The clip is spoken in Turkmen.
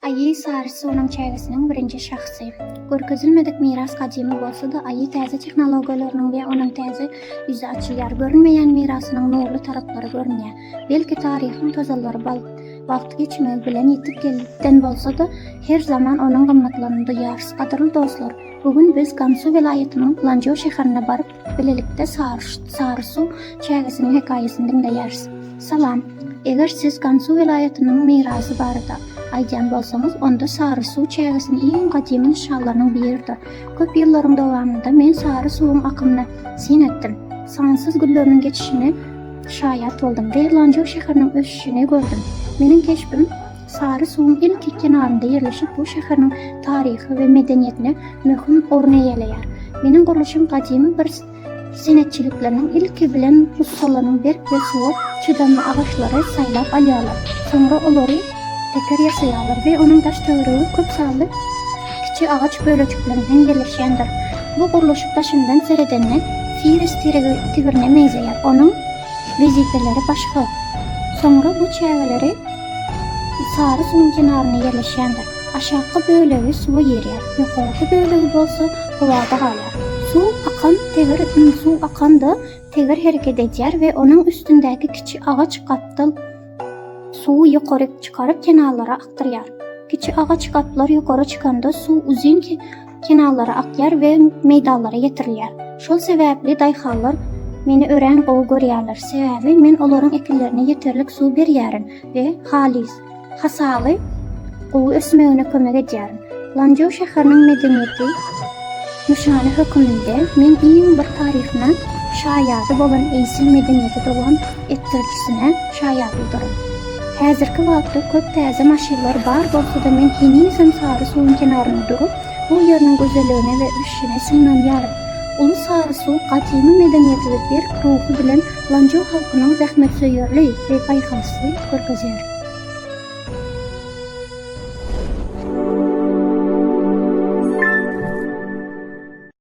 Aýy saryçy onuň çägesiniň birinji şahsy. Görkezilmedik miras gadymy bolsa-da, aýy täze tehnologiýalarynyň we onuň täze ýüzi açylýar. Görünmeýän mirasynyň nurly taraplary görünýär. Belki taryhyň tozalary bal wagt geçmegi bilen ýitip giden bolsa-da, her zaman onuň gymmatlygyny duýarys. Gadyrly dostlar, bu gün biz Gansu welaýatynyň Lanjo şäherine baryp, Bilelikde Sary suw çägesiniň hekaýasyny diňleýäris. Salam! Eger siz Gansu welaýatynyň mirasy barada aýdýan bolsaňyz, onda Sary suw çägesini iň gadymy nyşanlarynyň biridir. Köp ýyllaryň dowamynda men Sary suwuň akymyna syn etdim. Sansyz gülleriniň geçişine şaýat boldum. Derlanjyr şäheriniň ösüşini gördüm. Meniň keşbim Sary suwuň ilki kenarynda ýerleşip bu şäheriniň taryhy we medeniýetine möhüm orun eýeleýär. Meniň gurluşym gadymy bir senetçilikleriniň ilki bilen ussalarynyň berk we suwa çydamly agaçlary saýlap alýarlar, soňra olary teker ýasaýarlar we onuň daş-töweregi köp sanly kiçi agaç bölejiklerinden ýerleşýändir. Bu gurluşyk daşyndan seredende Firis tigirine meňzeýär, onuň wezipeleri başga. Soňra bu çägeleri. Sary suwuň kenarynda ýerleşýändir. Aşakky bölegi suwa girýär, ýokarky bölegi bolsa howada galýar. Suw akan teger ün suw akanda teger hereket edýär we onuň üstündäki kiçi agaç gapdal suwy ýokaryk çykaryp kenarlara akdyrýar. Kiçi agaç gaplar ýokara çykanda suw uzyn kenarlara akýar we meýdanlara ýetirilýär. Şol sebäpli daýhanlar meni örän gowy görýärler, sebäbi men olaryň ekinlerine ýeterlik suw berýärin we halys, hasaly gowy ösmegine kömek edýärin. Lanzhou şäheriniň medeniýeti nyşany höküminde men iň bir taryhyna şaýady bolan eýsil medeniýeti dowam etdirjisine şaýat ulduryn. Häzirki wagtda köp täze maşynlar bar bolsa-da men henizem Sary suwuň kenarynda durup, bu ýeriniň gözelligine we ösüşine synlanýaryn. Uly Sary suw gadymy medeniýeti we berk ruhy bilen Lanjo halkynyň zähmetsöýerli we baýhasly görkezýär.